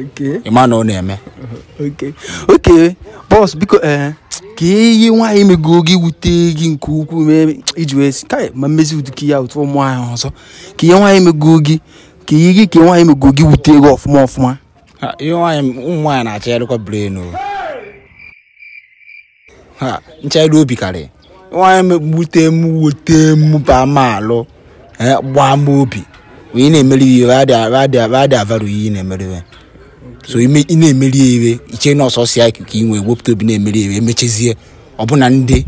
Okay. ịma na ọ na-eme Okay. Okay. Boss, biko eh, kee ihe nwaanyị megoro gị wute gị nke ukwuu mee i ji wee sị kai ma mmezi ụdị ka ya otu ụmụ nwaanyị ọzọ kee ihe nwaanyị megoro gị kee ihe gị kee ihe nwaanyị megoro gị wute gị ọfụma ọfụma Ha, ihe nwaanyị ụmụ nwaanyị na-achọ ya dịkwa brain o ha nchegharị obi karịrị nwaanyị megbute m wute m ba m alụ eh, gbawa m obi onye na-emeri ihe adị avalue ihe ị na-emeri ihe so ime- ị na-emeri ya ihe i chee na ọ sọsọ ya ka ị nwee wepụta obi na-emeri ya ihe emechezie ọbụna ndị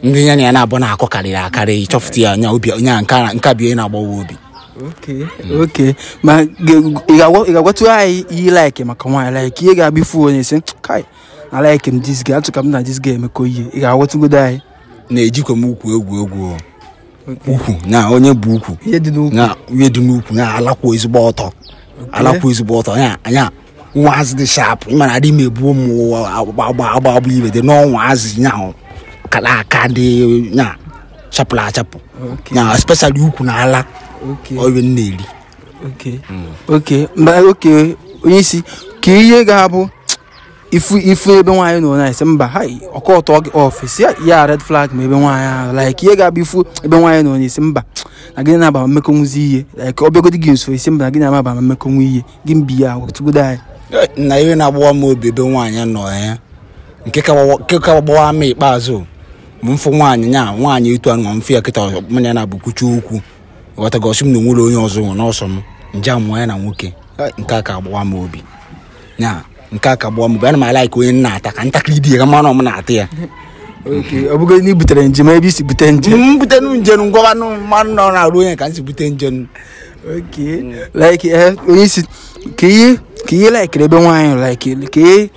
ndị ya na ya na-abụ na-akọ karịrị akarị ị chọfụta ya anya obi onye a nke a- nke a bụ ihe na-agbawa obi Okay, okay. ma ge- ị ga-agwa- ị ga-agwatụ anyị ihe like maka nwaanyị like ihe ga-abụ ị fụ onye sị kai alike m this girl achọ ka m na this girl emekọ ihe ị ga-agwatụgodo anyị na ejikwa m ukwu egwu egwu o. ukwu na onye bu ukwu ihe dị n'ukwu na ihe dị n'ukwu na ala kwụ ezigbo ọtọ ala kwụ ezigbo ọtọ ya anya nwa azị dị sharp ị mara adị m ebuo m ụwa agba agba agba agba ibe dị n'ọnwa azị nya ahụ kala aka dị nya chapụrụ achapụ Okay. nya especially ukwu na ala okay ọrụ m na-eri okay okay mba okay onye isi kee ihe ga-abụ ị fụ ị fụ ebe nwaanyị nọ na-asị mba ha ọ ga-aturn gị off sị ya ya red flag ma ebe nwaanyị ahụ like ihe ga-abụ ị fụ ebe nwaanyị nọ na-asị mba na gị na-aba mmekọ nwụzi ihe like ọ bịagodi gị nso ị sị mba na gị na-amaba ma mmekọ nwa ihe gị mbi ya gwatụgodo anyị na ihe na-agbawa m obi ebe nwaanyị nọ ya nke ka gbawa- nke ka gbawa m ikpeazụ bụ m fụ nwaanyị nya nwaanyị etu a nọ mfe ya kịta mụ na ya naabọ kwuchi okwu ghọtago ọ sị m na o nwela onye ọzọ o nwe na ọ sọ m m jee nwụọ ya na nwoke Eh, nke a ka agbawa m obi ya nke a ka agbawa m obi ana m alike onye m na-ata ka ntakịrị dị ya ka m ma na ọ m na-ata ya Okay, ọ bụgo na i butere nje ebe i si bute nje m butenu nje nu ngwanụ m ma na ọ n'arụ onye a ka m si bute nje nu Okay. like eh, onye isi kee ihe kee ihe ị likere ebe nwaanyị like kee ihe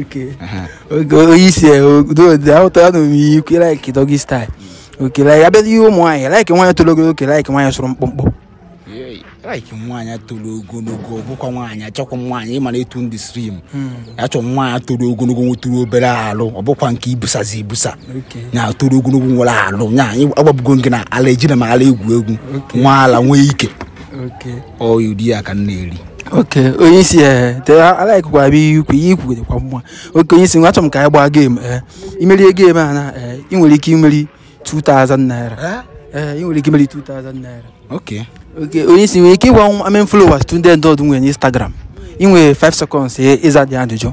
Okay. Aha. okay onye isi ahụtara na omiyi ukwu like doggy style okay like a bịa ihe ụmụ nwaanyị like nwaanyị toro ogologo ka ị like nwaanyị sụrụ mkpụmkpụ Yei, like nwaanyị toro ogologo ọ bụkwa nwaanyị achọkwa m nwaanyị ịmara etu ndị slim achọ m nwaanyị toro ogologo nwetụrụ obere alụ ọ bụkwa nke ibusazi ibusa Okay. ya toro ogologo nwere alụ nya agwabugo gị na ala ejina m ala egwu egwu nwee ala nwee ike okay ọ ụdị ya ka m na-eri okay onye isi ee te alikekwa abịa ihe ukwu ihe i kwu dịkwa mma okay onye isi nwa achọ m ka anyị gbaa game ee i merie game a na ee ị nwere ike imeri 2000 naira ee ị nwere ike imeri 2000 naira okay okay onye isi nwere ike ịgwa m how many followers Tunde Ednut nwere n'Instagram ị nwere 5 seconds ịza the ajụjụ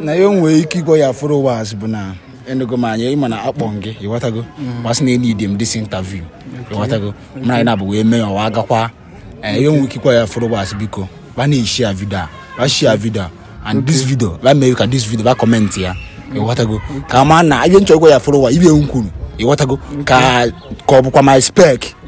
na ya nwee ike ịgwa your followers bụ na enugo m anya ịma na akpọ gị ịghọtago gwa sị na e-need m this interview ịghọtago mara anyị naabọ wee mee ya ọwa agakwa ee eh, ya nwee ike ịgwa your followers biko ba na-eshare video a ba share video and this video ba mee ka this video ba comment ya ịghọtago ka ma na ihe m chọ ịgwa your followers ibe m kwuru ịghọtago ka ka ọ bụkwa my spec